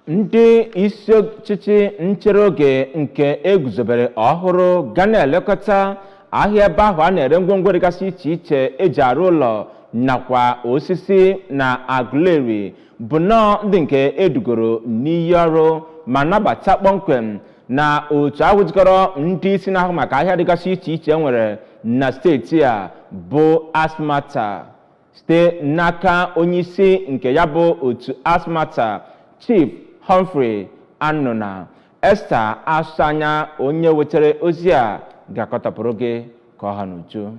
ndị isi ọchịchị nchere oge nke eguzobere ọhụrụ ga na-elekọta ahịa ebe ahụ a na-ere ngwongwo dịgasị iche iche eji arụ ụlọ nakwa osisi na aguleri bụ nnọọ ndị nke edugoro n'iyi ọrụ ma nabata kpọmkwem na otu ahụ jikọrọ ndị isi na-ahụ maka ahịa dịgasị iche iche e nwere na steeti a bụ asmata site n'aka onyeisi nke ya bụ otu asmata chief Humphrey Anụna Esther Asọanya onye wetara ozi a ga-akọtọpụrụ gị ka ọ ha n'uju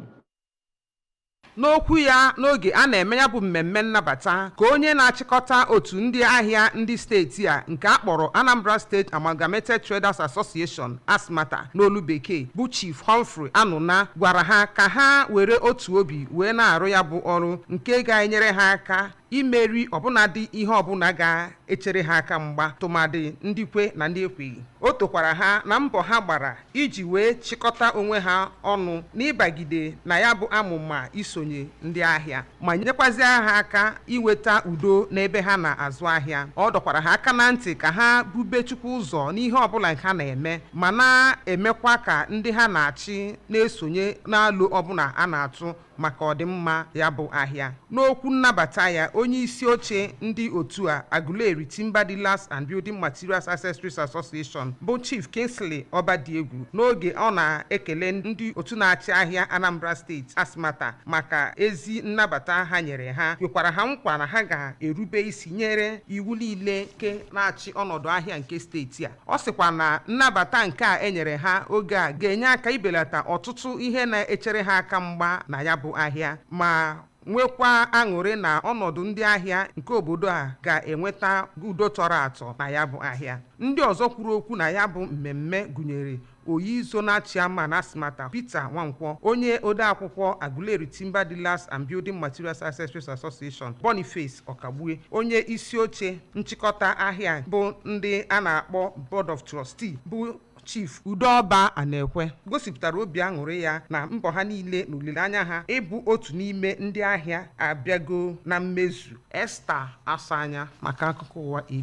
n'okwu ya n'oge a na-eme ya bụ mmemme nnabata ka onye na-achịkọta otu ndị ahịa ndị steeti a nke a kpọrọ Anambra State Amalgamated Traders Association Asmata n'olu Bekee, bụ Chief Humphrey Anụna gwara ha ka ha were otu obi wee na-arụ ya bụ ọrụ nke ga-enyere ha aka imeri ọbụnadị ihe ọbụla ga-echere ha aka mgba tụmadị ndị kwe na ndị ekweghị. O tokwara ha na mbọ ha gbara iji wee chịkọta onwe ha ọnụ n'ịbagide na ya bụ amụma isonye ndị ahịa. ma nyekwazịa ha aka iweta udo n'ebe ha na-azụ ahịa ọ dọkwara ha aka na ntị ka ha bube Chukwu ụzọ n'ihe ọbụla ha na-eme ma na-emekwa ka ndị ha na-achị na-esonye n'alo ọbụla a na-atụ maka ọdịmma ya bụ ahịa n'okwu nnabata ya onye isi oche ndị otu a Aguleri Timber Dealers and Building Materials Accessories Association bụ Chief Kingsley Obadiegwu n'oge ọ na-ekele ndị otu na-achị ahịa Anambra steeti Asmata maka ezi nnabata ha nyere ha kwekwara ha nkwa na ha ga-erube isi nyere iwu niile nke na-achị ọnọdụ ahịa nke steeti a ọ sịkwa na nnabata nke a enyere ha oge a ga-enye aka ibelata ọtụtụ ihe na-echere ha aka mgba na ya bụ ahịa ma nwekwa aṅụrị na ọnọdụ ndị ahịa nke obodo a ga-enweta udo tọrọ atọ na ya bụ ahịa ndị ọzọ kwuru okwu na ya bụ mmemme gụnyere Oyi Zonal Chairman Asmata, Peter Nwankwọ, onye odeakwụkwọ Aguleri Timber Dealers and Building Materials Accessories Association, Boniface Ọkagbue, onye isi oche nchịkọta ahịa bụ ndị a na-akpọ Board of Trustee bụ Chief Udeọba Anekwe gosipụtara obi aṅụrị ya na mbọ ha niile na olileanya ha ịbụ otu n'ime ndị ahịa abịago na mmezu. Esther Asọanya maka akụkọ ụwa.